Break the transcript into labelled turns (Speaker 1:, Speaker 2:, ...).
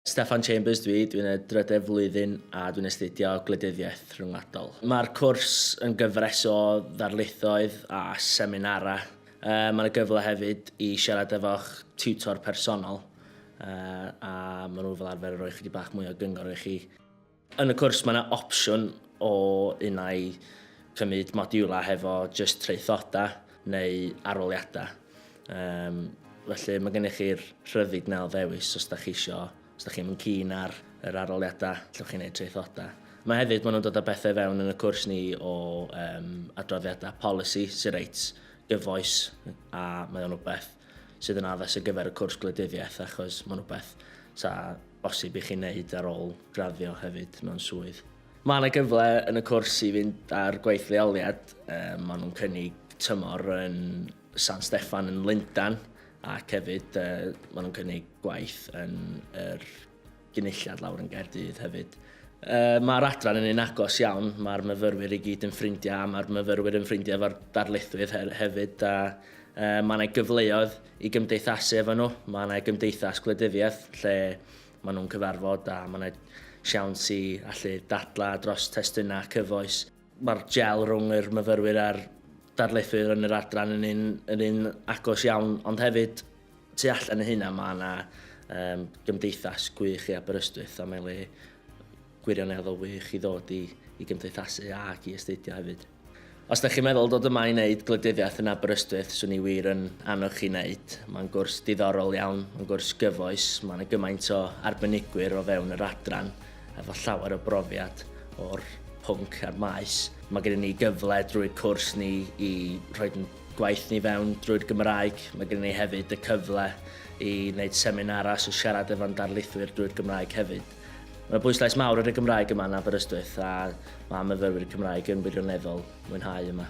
Speaker 1: Steffan Chambers dwi, dwi'n y drydedd flwyddyn a dwi'n astudio gwleidyddiaeth rhyngwladol. Mae'r cwrs yn gyfres o ddarlithoedd a seminarau. Mae yna gyfle hefyd i siarad efo'ch tiwtor personol a maen nhw fel arfer yn rhoi chydig bach mwy o gyngor i chi. Yn y cwrs mae yna opsiwn o unai cymryd modiwlau hefo jyst traethodau neu arholiadau. Um, felly mae gennych chi'r rhyddid na o ddewis os da chi isio, os da chi'n mynd cyn ar yr arholiadau, lle chi'n gwneud traethodau. Mae hefyd, maen nhw'n dod â bethau fewn yn y cwrs ni o um, adroddiadau polisi sy'n reit gyfoes a mae o'n rhywbeth sydd yn addas ar gyfer y cwrs gwleidyddiaeth achos mae'n rhywbeth sa bosib i chi wneud ar ôl graddio hefyd mewn swydd. Mae yna gyfle yn y cwrs i fynd ar gwaith leoliad, um, maen nhw'n cynnig tymor yn San Steffan yn Lundan ac hefyd uh, maen nhw'n cynnig gwaith yn yr er gynulliad lawr yn Gaerdydd hefyd. Uh, mae'r adran yn un agos iawn, mae'r myfyrwyr i gyd yn ffrindiau a mae'r myfyrwyr yn ffrindiau efo'r darlithwyr he hefyd a uh, mae yna gyfleoedd i gymdeithasu efo nhw. Mae yna gymdeithas gwleidyddiaeth lle maen nhw'n cyfarfod a mae yna siawns i allu dadla dros testunau cyfoes. Mae'r gel rhwng yr myfyrwyr a'r darlithwyr yn yr adran yn un, yn un agos iawn, ond hefyd tu allan o hynna mae yna um, gymdeithas gwych i Aberystwyth a mae'n le gwirioneddol wych i ddod i i gymdeithasu ac i astudio hefyd. Os da chi'n meddwl dod yma i wneud gwleidyddiaeth yn Aberystwyth, swn i wir yn annog chi wneud. Mae'n gwrs diddorol iawn, mae'n gwrs gyfoes, mae yna gymaint o arbenigwyr o fewn yr adran efo llawer o brofiad o'r pwnc a'r maes. Mae gennym ni gyfle drwy'r cwrs ni i rhoi gwaith ni fewn drwy'r Gymraeg. Mae gennym ni hefyd y cyfle i wneud seminarau, so siarad efo'n darlithwyr drwy'r Gymraeg hefyd. Mae 'na bwyslais mawr ar y Gymraeg yma yn Aberystwyth a mae myfyrwyr Cymraeg yn wirioneddol mwynhau yma.